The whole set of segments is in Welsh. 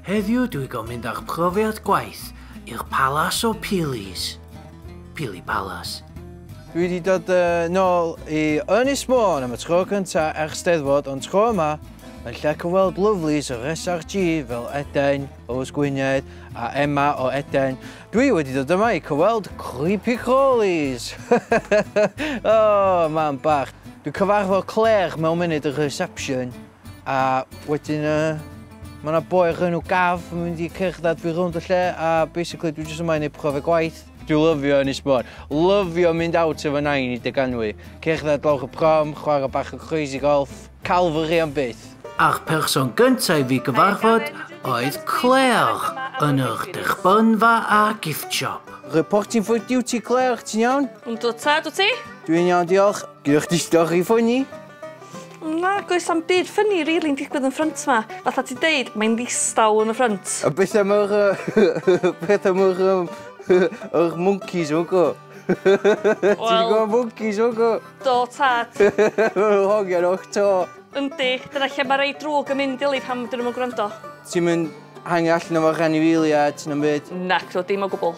Heddiw dwi go mynd â'ch profiad gwaith i'r palas o Pilis. Pili Palace. Dwi di dod yn ôl i Ynys Môn am y tro cynta ers Steddfod ond tro yma yn lle cyfweld lyflis yr SRG fel Eden, Rose Gwynedd a Emma o Eden. Dwi wedi dod yma i cyfweld Creepy Crawlies! oh, mam bach. Dwi cyfarfod Claire mewn munud y reception. A wedyn yy ma' 'na boi o'r enw Gav yn mynd i cerddad fi rownd y lle a basically dwi jyst yma i neud profiad gwaith. Dwi lyfio Ynys Môn. Lyfio mynd out efo nain i dy ganwy. Cerddad lawr y prom, chwarae bach o crazy golf. Calvary am byth. A'r person gynta' i fi gyfarfod oedd Claire yn yr dechbynfa a'r gift shop. Reporting for duty Claire, ti'n iawn? Yndw tad, wt ti? Dwi'n iawn diolch. Gynnoch chdi stori ffyni? Nag oes am byd ffynnu rili'n digwydd yn ffrynt ma. Fatha ti deud, mae'n ddistaw yn y ffrynt. A beth am yr... beth am yr... yr monkeys o go? Ti'n gwybod monkeys o go? Do, tad. Mae'n hogian o'ch to. Yndi, dyna lle mae rei drwg yn mynd ili pan dyn nhw'n yn gwrando. Ti'n mynd hangi allan efo rhanifeiliaid na'm byd? Nac, dim o gwbl.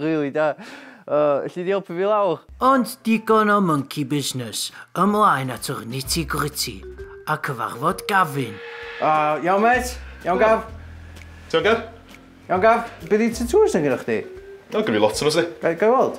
Rili da. Elli di helpu fi lawr? Ond digon o monkey business, ymlaen at yr nitty gritty, a cyfarfod Gavin. Iawn mêt? Iawn Gav? Ti iawn Gav? Iawn Gav? Be di tatŵs na gennych chdi? O gyn fi lot o nhw 'sdi. Ga i weld?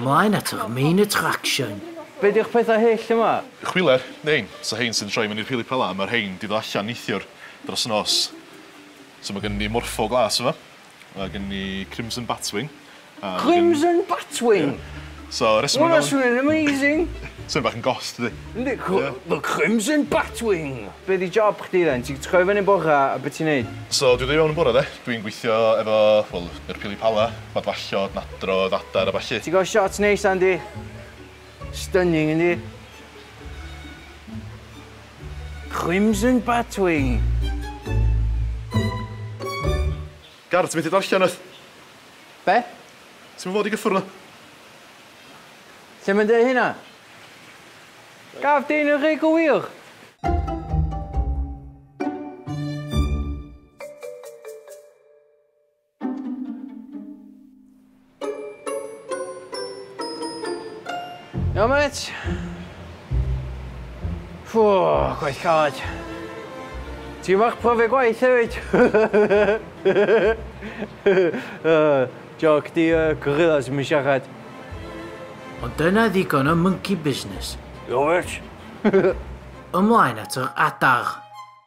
Mlaen at yr main attraction. Be di'ch pethau hyll yma? Chwiler, rhein, so rhein sy'n troi fyny'r rhili pala, ma rhein di ddo allan neithiwr dros nos. So ma gynnon ni morpho glas yma, ma gynnon ni crimson batwing a ma gynnon ni... Crimson batwing? Ie. So reswm ma galw... Ma hwnna swnio'n amazing! Swnio bach yn goth dydi? Yndi, cw- Ie. The crimson batwing! Be di job chdi then? Ti'n troi fyny bora a be ti'n neud? So dwi ddo i fewn yn bora de, dwi'n gweithio efo, wel, yr pili pala, Madfallod, Nadrodd, Adar a ballu. Ti'n cael shot neis dda yndi? Stunning yndi? Crimson Batwing! Garth, ti'n methu darllen wyt? Be? Ti'm yn fod i gyffwrdd na? Lle mae'n dweud hynna? Gaf dyn yn rhy gywir? Iawn mêt? Ffw, gwaith caled. Ti'n fach profiad gwaith hefyd? Joc di y gorillas yn siarad. Ond dyna ddigon o monkey business. Iawn mêt? Ymlaen at yr adar.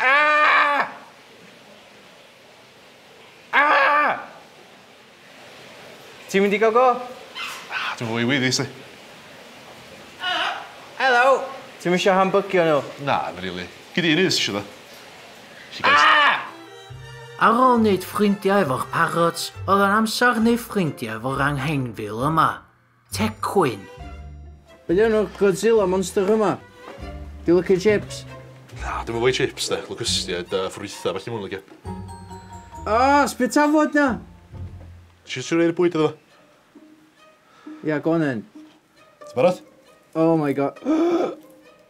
Aah! Aah! Ti'n mynd i gael go? Na, dwi'n fwy wyddus i. Helo! Ti'm isio hambygio nhw? Na, ddim rili. Gei di un os isio ddo. Aah! Ar ôl neud ffrindiau efo'r parrots, oedd o'n amser neud ffrindiau efo'r angheinfil yma. Tecwyn! Be di enw'r Godzilla monster yma? Di o'n licio chips? Na, dwi'm yn fwy chips de, locustiaid a ffrwytha felly mwyn licio. Aas, be tafod na? Ti eisiau rhoi bwyd iddo fo? Ia, go on then. Ti'n barod? Oh my god.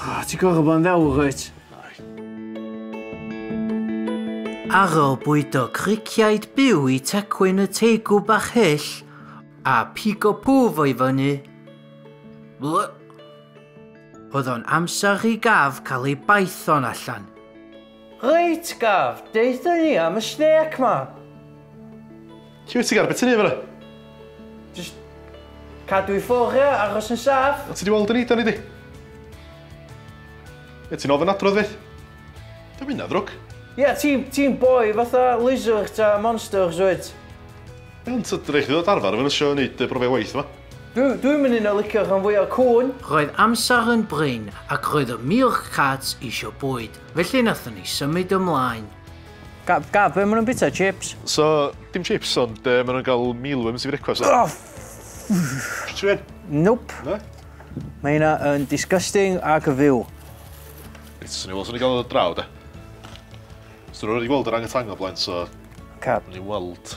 Oh, ti'n gwybod bod yn ddewr, wyt? Ar ôl bwydo criciaid byw i tecwyn y teigw bach hyll a pigo pwf o'i fyny, oedd o'n amser i gaf cael ei baethon allan. Reit, gaf, deuthon ni am y snêc ma. Lle wyt ti'n gael beth ti'n ei fyna? Just cadw i ffwrdd ia, aros yn saff. O ti di weld yn eidon i di? Ie, ti'n ofyn adrodd fyth? Dwi'n mynd na ddrwg. Ie, ti'n boi fatha lizards a monsters wyt? Iawn, ti'n rhaid chi ddod arfer efo nysio yn neud brofiau waith yma. Dwi'n mynd yn o licio rhan fwy o'r cwn. Roedd amser yn brin ac roedd y meerkats eisiau bwyd, felly nathon ni symud ymlaen. Gad, gad, be maen nhw'n bita? Chips? So, dim chips, ond uh, maen nhw'n cael mealworms i frecwast. Oh, Ffrtrin? Nope. No? Mae hynna yn disgusting ac yn fyw. Reit, swn i'n weld, swn i'n cael o draw, da. Swn i'n rhaid i weld yr angytangol blaen, so... Cab. Swn i'n weld...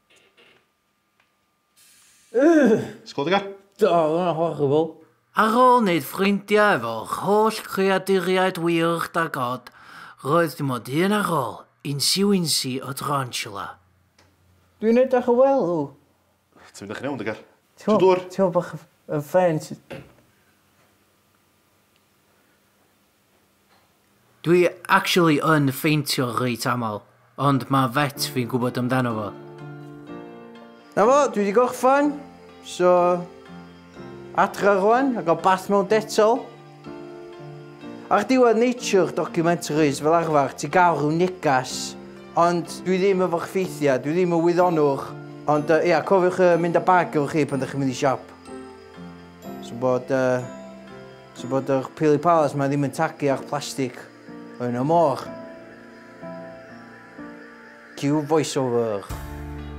Sgôl dy gar. Do, oedd hwnna'n horrible. Ar ôl wneud ffrindiau efo'r holl greaduriaid wych da God, roedd dim ond un ar ôl, Incy Wincy o Tarantula. Dwi'n edrych yn well ddo. Ti'n edrych yn iawn dy gar. Tro dwr. Teimlo bach yn faint. Dwi actually yn ffeintio reit aml, ond ma vet fi'n gwbod amdano fo. Na fo, dwi di gorffan, so adra rwan a gael bath mewn detol. Ar diwedd nature documentaries fel arfer ti'n gael rhyw negas, ond dwi ddim efo'r ffeithiau, dwi ddim yn wyddonwr, ond yy ia cofiwch yy mynd â bag efo chi pan dach chi'n mynd i siop. So bod yy So bod yr pili palas ma ddim yn tagu â'ch plastig yn y môr. Cue voiceover.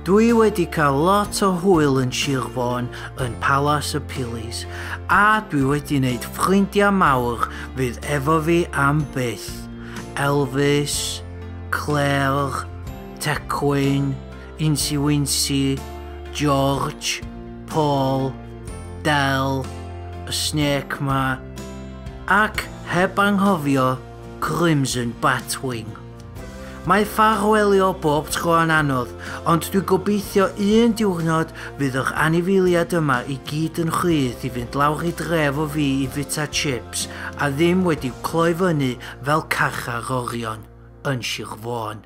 Dwi wedi cael lot o hwyl yn Sir Fôn yn Palas y Pilis a dwi wedi wneud ffrindiau mawr fydd efo fi am byth. Elvis, Claire, Tecwyn, Insi Winsi, George, Paul, Del, y Snake 'ma, ac heb anghofio Crimson Batwing. Mae ffarwelio bob tro yn anodd, ond dwi gobeithio un diwrnod fydd yr anifeiliad yma i gyd yn rhydd i fynd lawr i dref o fi i fita chips a ddim wedi cloi fyny fel carchar orion yn Sir Fôn.